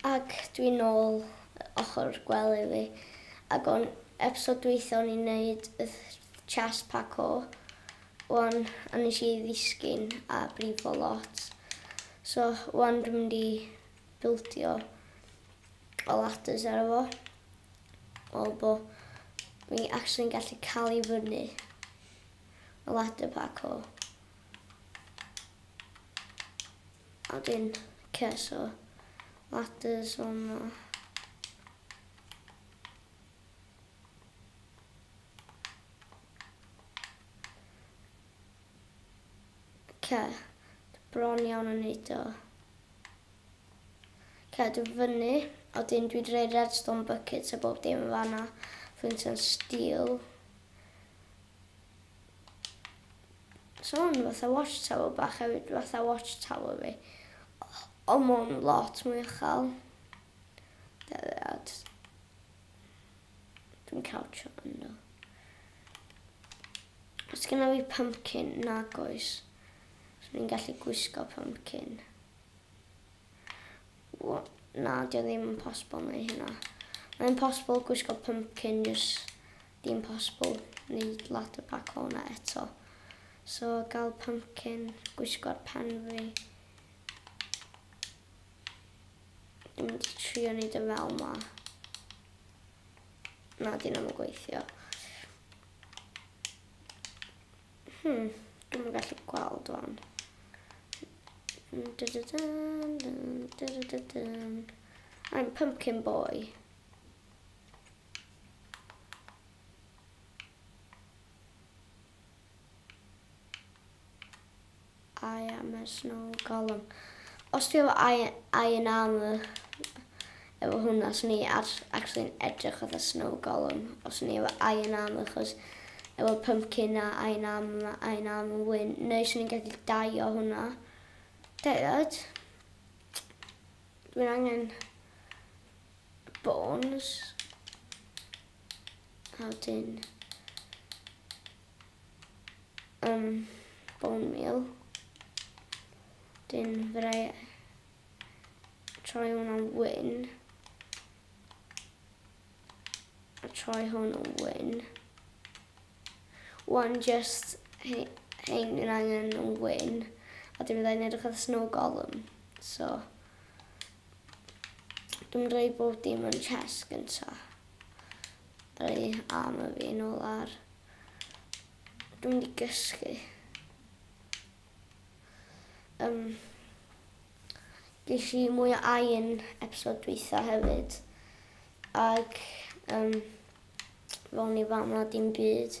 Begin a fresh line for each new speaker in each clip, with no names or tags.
Ac dwi nôl ochr gwely fi ac o'n episode dwytha o'n i'n neud y chest parkour wan a nes i ddisgyn a brifo lot so wan dwi'n mynd i bildio o ladders ar y fo fel bo fi actually yn gallu ca'l i fyny y ladder parkour. A dyn ces o ladders o'na. Ce, bron iawn yn neud o. Ce, dwi fyny. A dyn dwi wedi rhoi redstone buckets a bob dim yn fanna. Flint and steel. Son fatha watchtower bach hefyd fatha watchtower fi. Ond ma'n lot mwy uchel. Deliad. Dwi'n cawtio yno. Os gyda fi pumpkin, nag oes. So ni'n gallu gwisgo pumpkin. Wel, na, di o ddim yn posibl neu hynna. Mae'n posibl gwisgo pumpkin jyst Dim posibl neud lot o bacona eto. So gal pumpkin, gwisgo'r pen fi. Dwi'n mynd i trio neud y fel ma. Na, dyn nhw'n gweithio. Hmm, dwi'n mynd gallu gweld o'n. I'm pumpkin boy. I am a snow golem. Os ti efo I, I yn am y... Efo hwnna, os ni actually'n edrych oedd y snow golem. Os ni efo I yn am achos efo pumpkin a I yn am, I yn am yn wyn. Neu swn i'n gallu dau o hwnna. Dau oed. Dwi'n angen bones a wedyn um, bone meal dyn fyddai troi hwn am wyn a troi hwn am wyn one just hyn yn angen yn wyn a dyn fyddai'n edrych ar snow golem so Dwi'n rhoi bob dim yn chest gynta. Rhoi arm y fi yn ôl ar. Dwi'n mynd i gysgu. Um, ges i mwy o ain episod dwytha hefyd. Ac um, fel ni fama dim byd.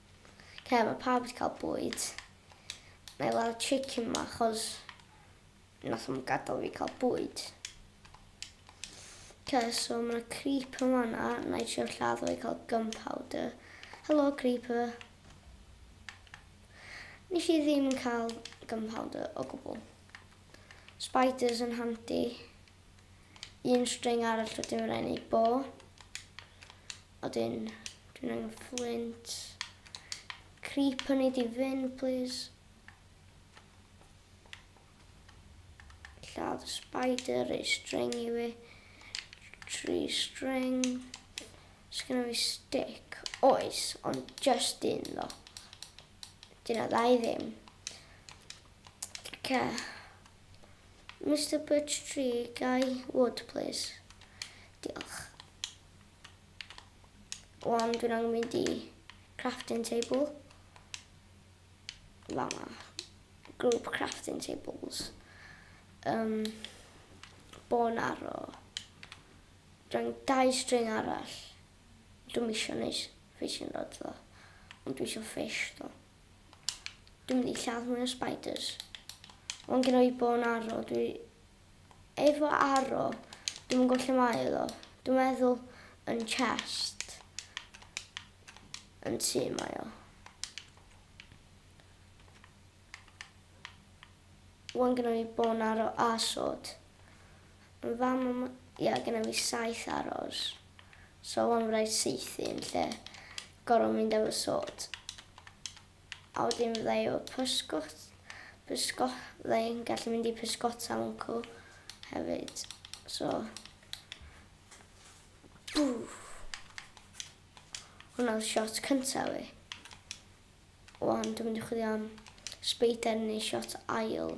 Lle mae pawb wedi cael bwyd. Mae i weld chicken ma achos nath nhw'n gadael fi cael bwyd. Oce, so mae yna creeper yn fanna. Na i trio lladd o i cael gunpowder. Helo, creeper. Nes i ddim yn cael gunpowder o gwbl. Spiders yn handi. un string arall rydw i'n rhaid wneud bo. A dyn, dwi'n angen flint. Creep yn ei di fynd, please. Lladd y spider, ei string i fi. Tree string. Sgynna fi stick. Oes, ond just un ddo. Dyna ddau ddim. Okay. Mister Birch Tree, Guy Wood plîs. Diolch. Wan dwi'n angen mynd i crafting table. Fama. Group crafting tables. Um, bon arro. Dwi'n dau string arall. Dwi'n misio neis ffeisio rod ddo. Ond dwi eisiau fish ddo. Dwi'n mynd i lladd mwy o spiders. Mae'n gen i bo yn arro. Dwi... Efo arro, dwi'n mynd gwybod lle mae iddo. Dwi'n meddwl yn chest. Yn tu mae o. Mae'n gen i bo yn arro a sod. Mae fam a mam. Ia gynna fi saith aros so wan fy raid saethu yn lle goro mynd efo sort a wedyn fydda i efo pysgot pysgot fydda i'n gallu mynd i pysgota mwnco hefyd so bwff hwnna oedd shot cynta fi wan dwi'n mynd i chwilio am spider neu shot ail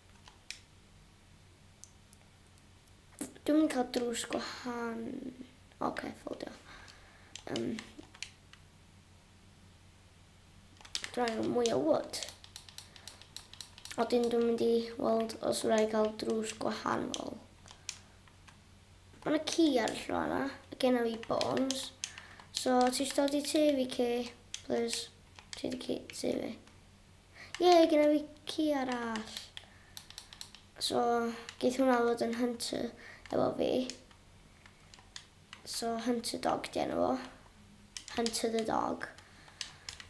Dwi'n mynd cael drws gwahan. Oce, okay, ffoldio. Um, Rhaid o mwy o wood. A dyn dwi'n mynd i weld os rhaid cael drws gwahanol. Mae yna ci ar y llw yna. A gen i bones. So, ti eisiau dod i tu fi, ci? Please. Ti wedi ci tu fi. Ie, gyda fi ci arall. So, geith hwnna fod yn Hunter efo fi. So, Hunter Dog di enw fo. Hunter the Dog.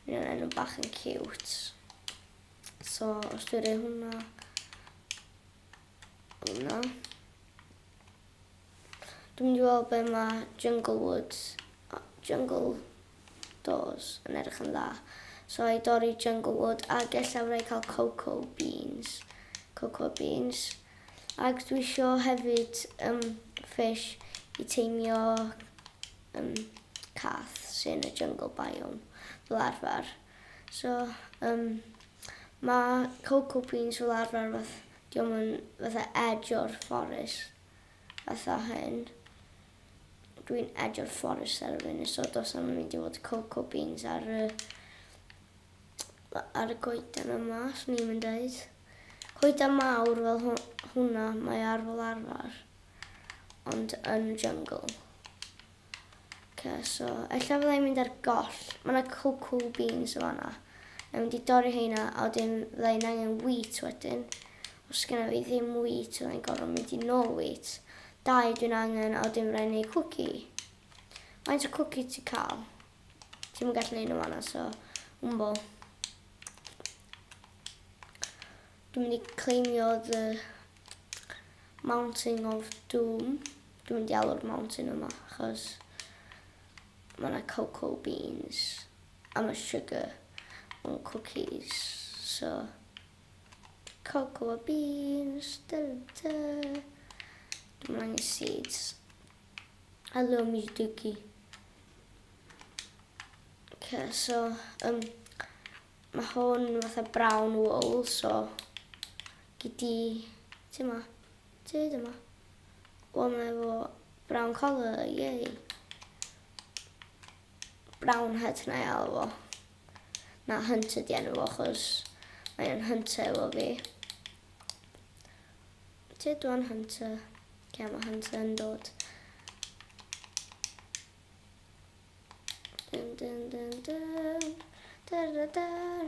Mae'n enw bach yn cute. So, os dwi'n rhoi hwnna... Hwnna. Dwi'n mynd i weld be mae Jungle Woods, Jungle Doors, yn edrych yn dda. So i dorri Jungle Wood ac ella wna i cael Cocoa Beans. Cocoa Beans. Ac dwi isio hefyd um, fish i teimio um, cath sy'n y jungle biome fel arfer. So um, mae Cocoa Beans fel arfer fath Dio'm yn fatha edge o'r fforest fatha hyn. Dwi'n edge o'r fforest ar y funud so dos am mynd i fod cocoa beans ar y ar y coeden yma, swn i'n mynd dweud. Coeden mawr fel hwnna, mae ar fel arfer, ond yn y jungle. Ok so ella fydda i'n mynd ar goll. Mae yna cocoa beans yn fanna. Mae'n mynd i dorri heina a wedyn fydda i'n angen wheat wedyn. Os sgynna fi ddim wheat fydda i'n gorfod mynd i nôl wheat. Dau dwi'n angen a wedyn fydda i'n neud cwci. Faint o cwci ti'n cael? Ti'n mynd gallu neud nhw fanna so. Wmbo. Dwi'n mynd i cleimio the mountain of doom. Dwi'n mynd i alw'r mountain yma achos mae yna cocoa beans a mae sugar mewn cookies. So, cocoa beans, da da. Dwi'n mynd angen seeds. Hello, Miss Dookie. Okay, so, um, Mae hwn fatha brown wool, so gyd di, ti ma, ti di ma. O, mae efo brown collar, yay. Brown head na iawn fo. Na, hunter di enw fo, chos mae'n hunter efo fi. Ti dwi'n hunter. Lle mae hunter yn dod? Dun, dun, dun, dun. Dar, dar, dar.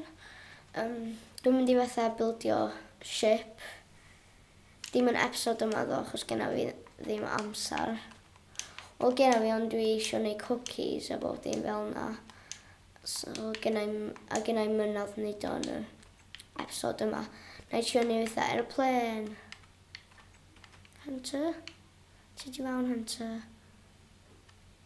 Um, dwi'n mynd i fatha bildio ship. Dim yn episod yma ddo, achos genna fi ddim amser. Wel, genna fi, ond dwi eisiau gwneud cookies a bob dim fel yna. So, genna i, a genna i mynodd wneud o'n y episod yma. Na i siarad ni fatha aeroplane. Hunter? Ti di fawn, Hunter?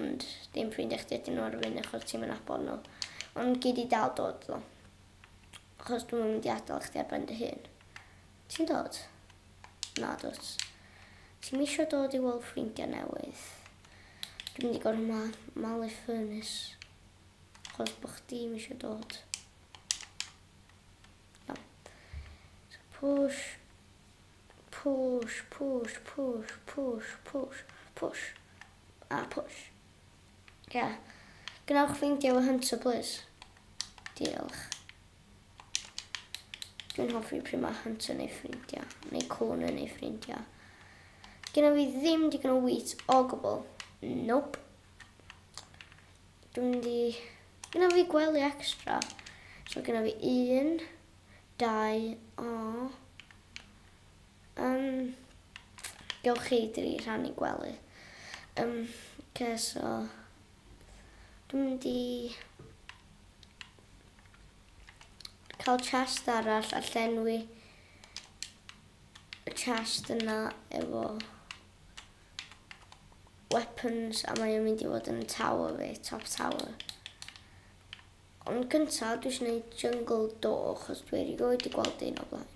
Ond dim ffrindia chdi ydyn nhw ar y funud achos ti'm yn nabod nhw. Ond gei di dal dod ddo. Achos dwi'm yn mynd i adael chdi ar ben dy hun. Ti'n dod? Na dwt. Ti'm eisiau dod i weld ffrindiau newydd. Dwi'n mynd i gorfod ma malu ffyrnus. Achos bod chdi'm eisiau dod. No. So push. Push, push, push, push, push, push. a push. Ia. Gwnewch ffeindio fy hunter plîs. Diolch. Dwi'n hoffi pryd mae hunter neu ffrindiau, neu cwn yn ei ffrindiau. Gynna fi ddim digon o wheat o gwbl. Nope. Dwi'n mynd i... Gynna fi gwely extra. So gynna fi un, dau, o... Yym gewch chi dri rhan i gwely. Yym oce so dwi'n mynd i cael chest arall a llenwi y chest yna efo weapons a mae o'n mynd i fod yn tower fi, top tower. Ond cynta dwi isio neud jungle do achos dwi erioed di gweld un o blaen.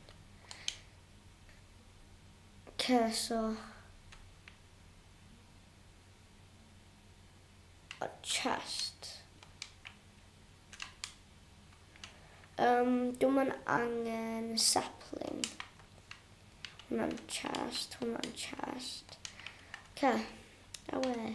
Ce so. A chest. Um, dwi'n mynd angen sapling. Hwna'n chest, hwna'n chest. Ce, a we.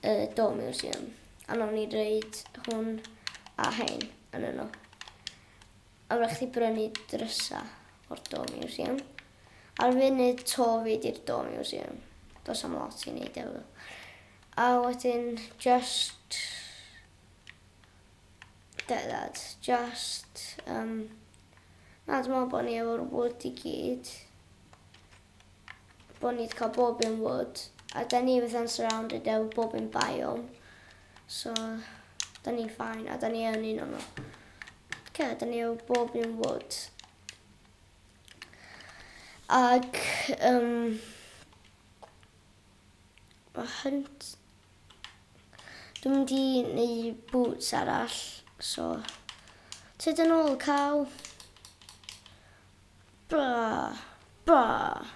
y Do Museum a nawn ni reid hwn a hein yn yno. A wrach chi brynu drysa o'r Do Museum. Ar funud to fi di'r Do Museum. Dos am lot i wneud efo. A wedyn just... Get that. Just... Um, na, dwi'n meddwl bod ni efo'r wood i gyd. bod ni wedi cael bob un wood, a da ni fatha'n surrounded efo bob un biome, so da ni'n ffain, a da ni yn un o'n nhw. Ce, da ni efo bob un wood. Ac, um, o hynt, dwi'n mynd i neu boots arall, so, tyd yn ôl caw. Braf! Braf!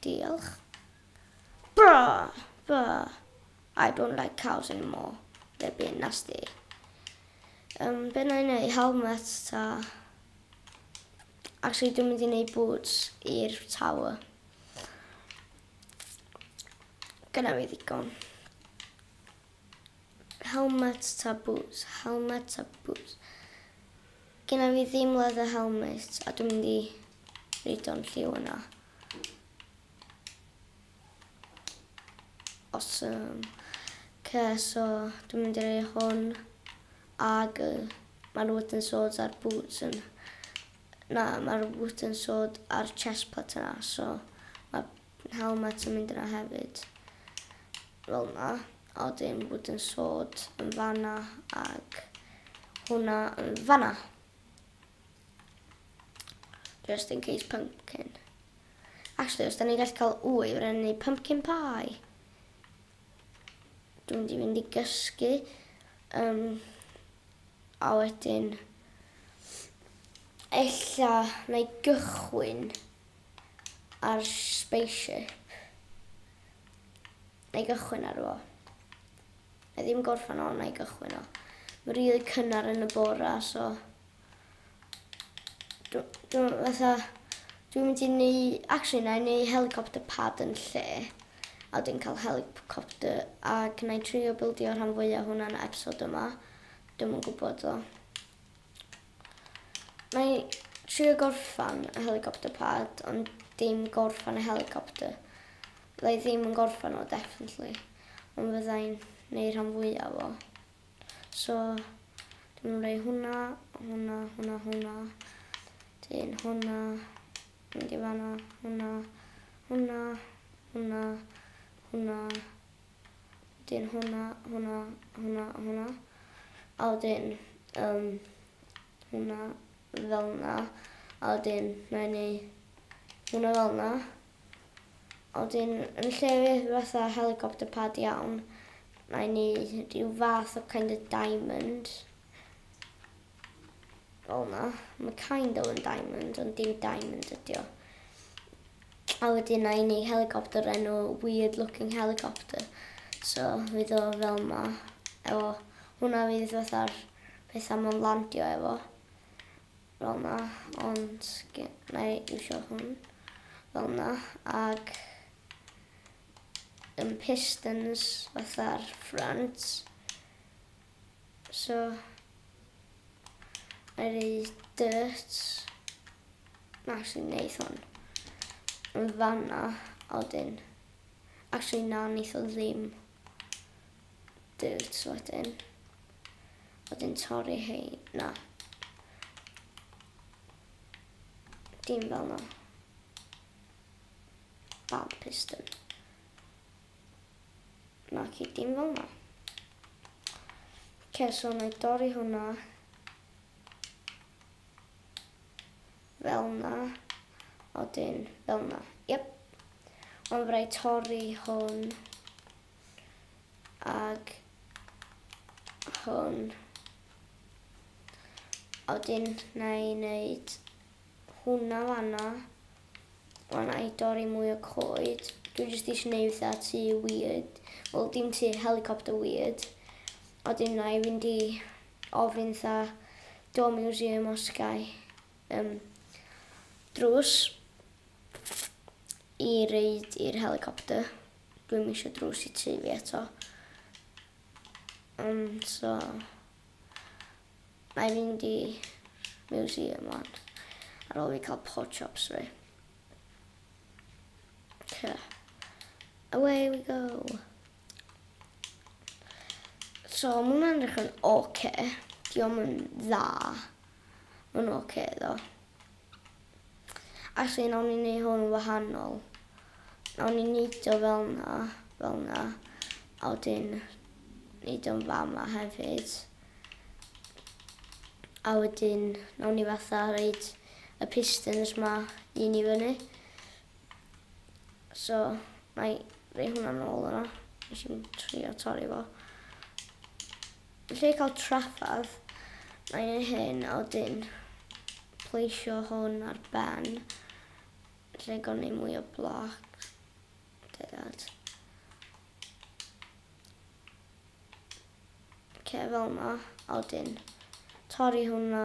Diolch. Braf! Braf! I don't like cows anymore. They're being nasty. Um, be na i wneud? Helmet ta? Actually, dwi'n mynd i wneud boots i'r tower. Gyda fi ddigon. Helmet ta boots? Helmet ta boots? Gynna fi ddim leather helmet a dwi'n mynd i reido'n lliw yna. Awesome. Ce, so dwi'n mynd i rei hwn ag y mae'r wooden swords a'r boots yn... Na, mae'r wooden sword a'r chest plate yna, so mae'r How ma ti'n mynd yna hefyd. Fel na. A wedyn wooden sword yn fanna ag hwnna yn fanna. Just in case pumpkin. Actually, os da ni'n gallu cael wy, fe rhaid ni pumpkin pie. Dwi'n mynd i fynd i gysgu. Um, a wedyn, ella na i gychwyn ar spaceship neu gychwyn ar fo. Na ddim gorffan o, na i gychwyn o. Mae'n rili really cynnar yn y bora, so... Dwi'n fatha... Dwi'n mynd i ni... Actually, na i ni helicopter pad yn lle. A dwi'n cael helicopter ac na i trio bildio rhan fwyaf hwnna'n episod yma. Dwi'n yn gwybod o. Mae trio gorffan y helicopter pad ond dim gorffan y helicopter. Fyddai ddim yn gorffan o definitely. Ond fyddai'n neu rhan fwyaf o. So, dwi'n mynd rei hwnna, hwnna, hwnna, hwnna. Dyn hwnna, mynd i fanna, hwnna, hwnna, hwnna, hwnna, Dyn hwnna, hwnna, hwnna, hwnna. A wedyn, um, hwnna fel na. A wedyn, na i ni hwnna fel na. A wedyn, yn lle fydd fatha helicopter pad iawn, na i ni rhyw fath o kind of diamond. O na, mae kind o yn diamond, ond dim diamond ydi o. A wedyn na i ni helicopter enw weird looking helicopter. So fydd o fel ma. Efo, hwnna fydd fatha'r pethau ma'n landio efo. Fel na, ond na i iwsio hwn. Fel na, ag yn pistons fatha'r front. So I read dirt. Actually neith hwn yn fanna a wedyn actually na neith o ddim dirt wedyn wedyn torri hei na dim fel na bad piston Naci, dim fel 'na. Oce, so na i dorri hwnna. Fel 'na. A wedyn fel 'na. Yep. Ond fydda i torri hwn. Ag hwn. A wedyn na i wneud hwnna fanna. Wan i dorri mwy o coed. Dwi jyst eisiau neud fatha tŷ weird. Wel, dim tŷ, helicopter weird. A wedyn na i fynd i ofyn tha do museum os gai um, drws i reid i'r helicopter. Dwi'n eisiau drws i tŷ fi eto. Um, so... Na i fynd i museum wan. Ar ôl fi cael pork chops fi. Okay. Away we go. So, mae hwnna'n edrych yn oce. Okay. Diolch yn dda. Mae'n oce okay, ddo. Actually nawn ni neu hwn yn wahanol. Nawn ni neud o fel na, fel na. A wedyn neud o'n fama hefyd. A wedyn nawn ni fatha reid y pistons ma un i fyny. So, na i rei hwnna nôl yna. Nes i'n trio torri fo. Lle cael trafferth mae'n ei hyn a wedyn pleisio hwn ar ben lle gawn ni mwy o bloc. Dead. Okay, fel yma, a wedyn torri hwnna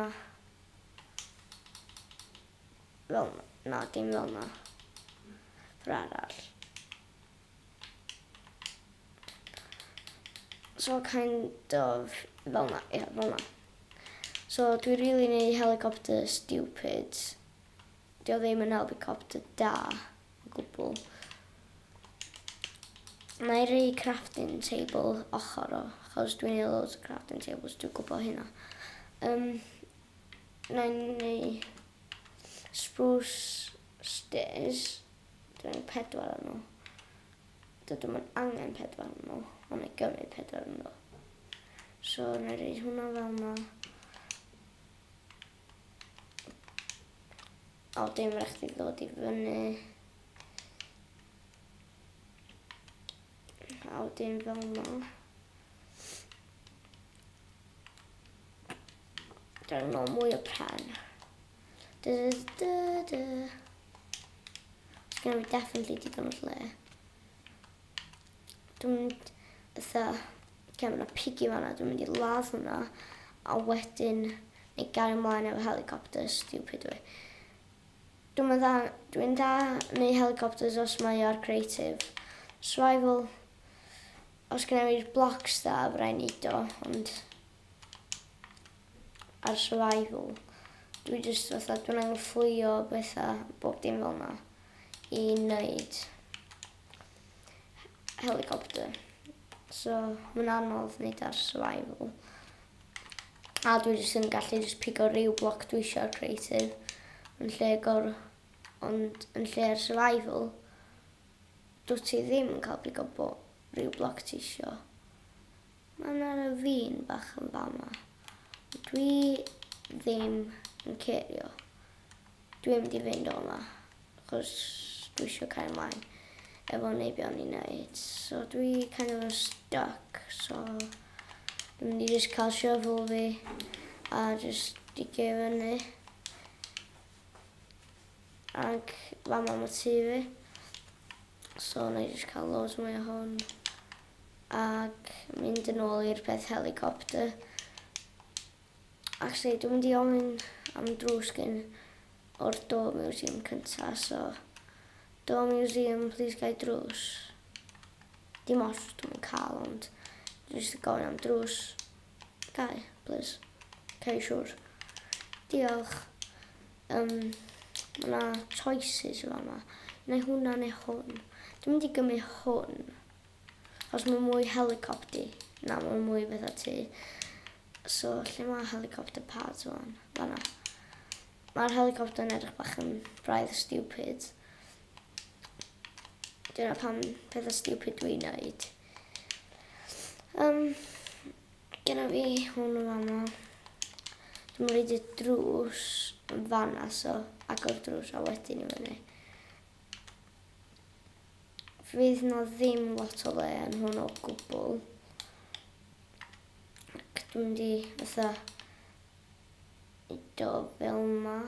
fel yma. Na, dim fel yma. Yr arall. So kind of fel 'na, ia, fel 'na. So dwi rili yn eu helicopter stupid. 'Di o ddim yn helicopter da o gwbwl. Wna i roi crafting table ochr o, achos dwi'n neud loads o crafting tables, dwi'n gwybod hynna. Um, wna i neud spruce stairs. Dwi angen pedwar o nhw. Dydw i'm yn angen pedwar o nhw, ond wna i gymryd pedwar o nhw. So, wna i roed hwnna fel yma. O, dim rhaid chdi ddod i fyny. A wedyn fel yma. Dyn nhw mwy o pen. Da da da da. Sgan fi definitely digon o lle. Dwi'n mynd ytho, gen fyna piggy fanna, dwi'n mynd i ladd hwnna. A wedyn, neu gario ymlaen efo helicopter, stupid way. Dwi'n mynd dda, dwi'n dda neu helicopters os mae o'r creative. Survival, os gen i'r blocks da, fydda i'n neud o, ond... ar survival. Dwi jyst fatha, dwi'n angyfflio betha, bob dim fel yna, i wneud helicopter. So, mae'n anodd wneud ar survival. A dwi jyst yn gallu jyst pigo rhyw bloc dwi eisiau creative, yn lle gor... ond yn lle ar survival, dwi ti ddim yn cael pigo rhyw bloc ti eisiau. Mae 'na ravine bach yn fama. Dwi ddim yn cerio. Dwi mynd i fynd o'na. Chos dwi eisiau cael mlaen efo neibion i wneud. So dwi kind of stuck. So dwi'n mynd i just cael shovel fi a just digio i fyny. Ac fama mae tu fi. So na i just cael loads mwy o hwn. ac mynd yn ôl i'r peth helicopter. Actually, dwi'n mynd i ofyn am drws gen o'r Door Museum cynta, so... Door Museum, please gai drws. Dim os dwi'n mynd cael, ond... Dwi'n just gofyn am drws. Gai, please. Gai siwr. Diolch. Um, mae yna choices yma yma. Neu hwnna neu hwn. Dwi'n mynd i gymryd hwn. Os mae mwy helicopti, na mae mwy fath o tu. So, lle mae helicopter pads o'n? Fanna. Mae'r helicopter yn edrych bach yn braidd stupid. Dyna pam pethau stupid dwi'n neud. Um, Gyda fi hwn yn fanna. Dwi'n rhaid y drws yn fanna, so agor drws a wedyn i fyny. Fydd 'na ddim lot o le yn hwn o gwbl. Ac dwi'n mynd i fatha i do fel ma.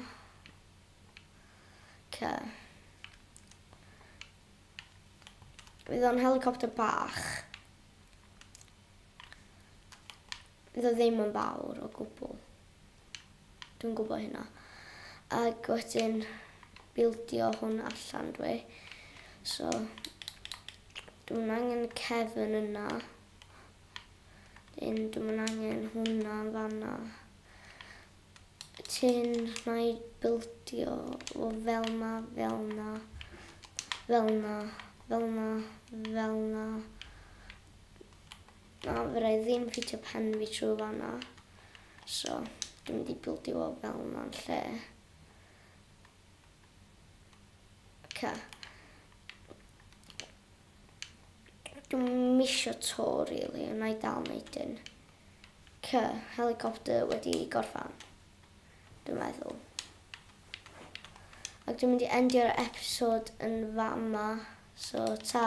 Ca. Fydd o'n helicopter bach. Fydd o ddim yn fawr o gwbl. Dwi'n gwybod hynna. Ac wedyn bildio hwn allan dwi. So, dwi'n angen y cefn yna. Dyn, dwi'n angen hwnna yn fanna. Tyn, na i bildio o fel na, fel na, fel na, fel na, fel na. Na fydda i ddim yn ffitio pen fi trwy fan'na so dwi'n mynd i bildio fo fel yna'n lle. Ca. Dwi'n misio to rili, yna i dal neud un. Ca, helicopter wedi gorffan. Dwi'n meddwl. Ac dwi'n mynd i endio'r episod yn fama. So ta.